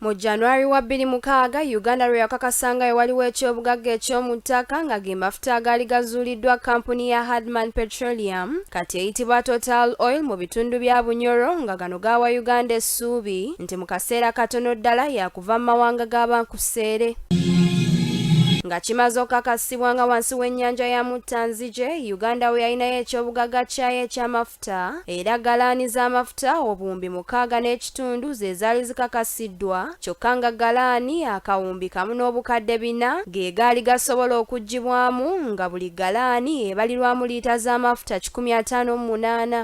Mu January wa bbiri mukaaga Uganda lwe yakakasa nga ewaliwo ekyobugagga eky'omu ttaka nga ge mafuta agaali gazuuliddwa kkampuni ya Hardman Petroleum kati eyitibwa Total Oil mu bitundu bya Bunyoro nga gano gaawa Uganda essuubi nti mu kaseera katono ddala yakuva mu mawanga g'abankuseere. nga kimaze okukakasibwa nga wansi w'ennyanja ya muttanzije uganda we yalinayo ekyobugagga kyayo ekyamafuta amafuta era galaani z'amafuta obuwumbi mukaaga n'ekitundu ze zaali zikakasiddwa kyokka nga galaani akawumbi kamu n'obukadde bina ge gaali gasobola okuggyibwamu nga buli galaani ebalirwamu liita z'amafuta kikumi ataano mu munaana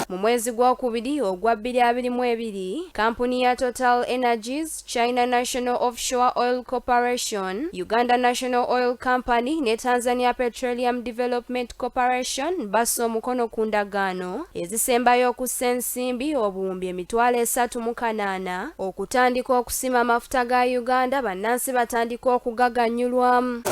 mu mwezi gw'okubiri ogwa bbiri abiri mu ebiri kampuni ya total energies China National Offshore Oil Corporation, Uganda National Oil Company ne Tanzania Petroleum Development Corporation bassa omukono ku ndagaano ezisembayo okussa ensimbi obuwumbi emitwalo esatu mu kanaana okutandika okusima amafuta ga Uganda bannansi batandika okugaganyulwamu.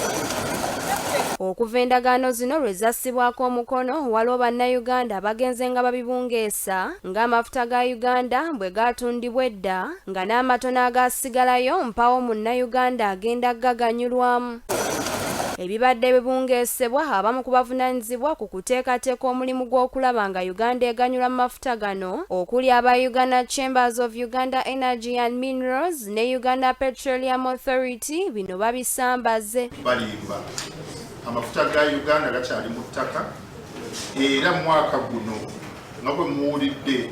Okuva endagaano zino lwe zassibwako omukono, waliwo Bannayuganda abagenze nga babibungeesa ng'amafuta ga Uganda bwe gaatundibwa edda nga n'amatono agaasigalayo mpawo munnayuganda agenda gaganyulwamu. Ebibadde bibungeesebwa abamu ku bavunaanyizibwa ku kuteekateeka omulimu gw'okulaba nga Uganda eganyula mu mafuta gano okuli aba Uganda Chambers of Uganda Energy and Minerals ne Uganda Petroleum Authority bino babisambaze. Balimba amafuta ga Uganda gakyali mu ttaka era mwaka guno nga bwe muwulidde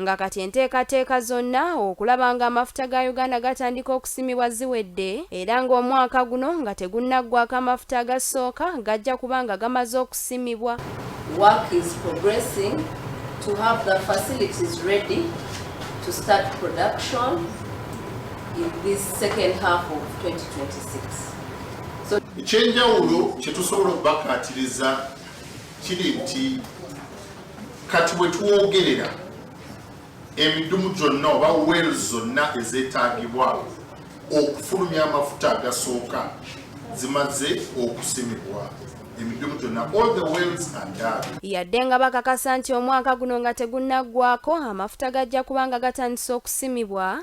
nga kati enteekateeka zonna okulaba nga amafuta ga Uganda gatandika okusimibwa ziwedde era ng'omwaka guno nga tegunnaggwako amafuta agasooka gajja kuba nga gamaze okusimibwa Work is progressing to have the facilities ready to start production in this second half of 2026. So... ekyenjawulo kyetusobola okubakaatiriza kiri nti kati wetwogerera emidumu gyonna oba wel zonna ezetagibwa okufulumya amafuta agasooka zimaze okusimibwa yadde nga bakakasa nti omwaka guno nga tegunnaggwako amafuta gajja kubanga gatandise okusimibwa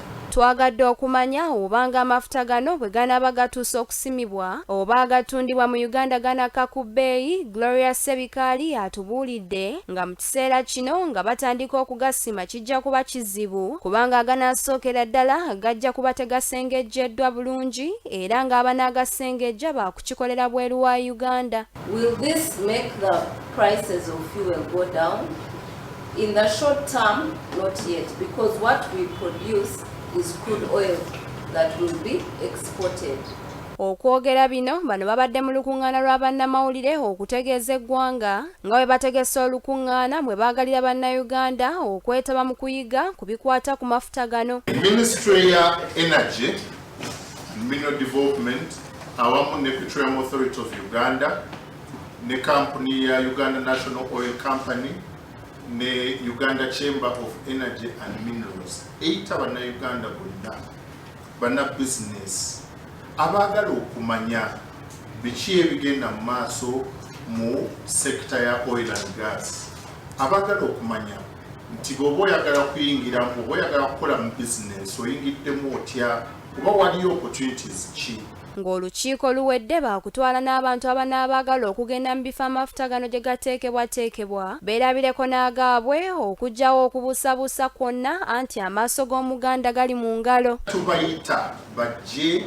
Twagadde okumanya oba nga amafuta gano bwe ganaaba gatuuse okusimibwa oba agatundibwa mu Uganda ganakka ku bbeeyi, Gloria Ssebikaali atubuulidde nga mu kiseera kino nga batandika okugasima kijja kuba kizibu kubanga aganaasookera ddala gajja kuba tegasengejjeddwa bulungi era ng'abanaagasengejja baakukikolera bweru wa Uganda. Will this make the prices of fuel go down? In the short term, not yet, because what we produce is crude oil that will be exported. Okwogera bino bano babadde mu lukungaana lwa bannamawulire okutegeeza eggwanga nga bwe bategese olukungaana mwe baagalira bannayuganda okwetaba mu kuyiga ku bikwata ku mafuta gano minisitule ya energy mineral development awamu ne petroleum authority of uganda ne kampuni ya Uganda National Oil Company ne Uganda Chamber of Energy and Minerals eyita bannayuganda bonna banna bizinesi abaagala okumanya biki ebigenda mu maaso mu sekita ya oil and gas abaagala okumanya nti bwoba oyagala kuyingira oba oyagala kukola mu bizinesi oyingiddemu otya kuba waliyo opportunities ki Ng'olukiiko luwedde baakutwala n'abantu abanaabaagala okugenda mu bifo amafuta gano gye gateekebwateekebwa beerabireko n'agaabwe okuggyawo okubuusabuusa kwonna anti amaaso g'Omuganda gali mu ngalo. Tubayita bajje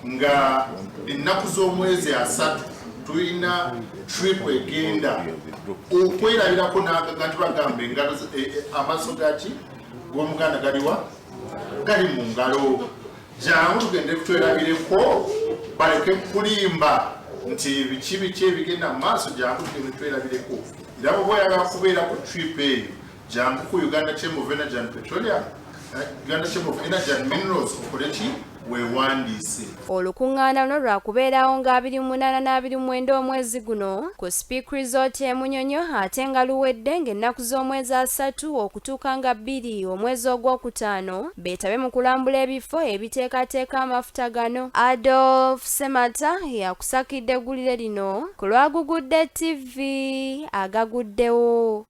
nga ennaku z'omwezi asatu tulina trip egenda okwerabirako nagaga nti bagamba engalo eh, eh, amaaso gaki g'Omuganda galiwa gali mu ngalo jangu tugende kutwerabireko baleke kulimba nti biki biki ebigenda mu maaso jangu tugende twerabireko era bwoba oyagala kubeera ku trip eyo jangu ku uganda chamber of energy and petroleum eh, uganda chamber of energy and minerals okoleki wewandiise olukuŋŋaana luno lwakubeerawo nga 28 n'abirimuwenda omwezi guno ku speak resort e munyonyo ate nga luwedde ng'ennaku z'omwezi asatu okutuuka nga bbiri omwezi ogw'okutaano beetabe mu kulambula ebifo ebiteekateeka amafuta gano adolf semata yakusakidde eggulire lino ku lwagugudde ttivi agaguddewo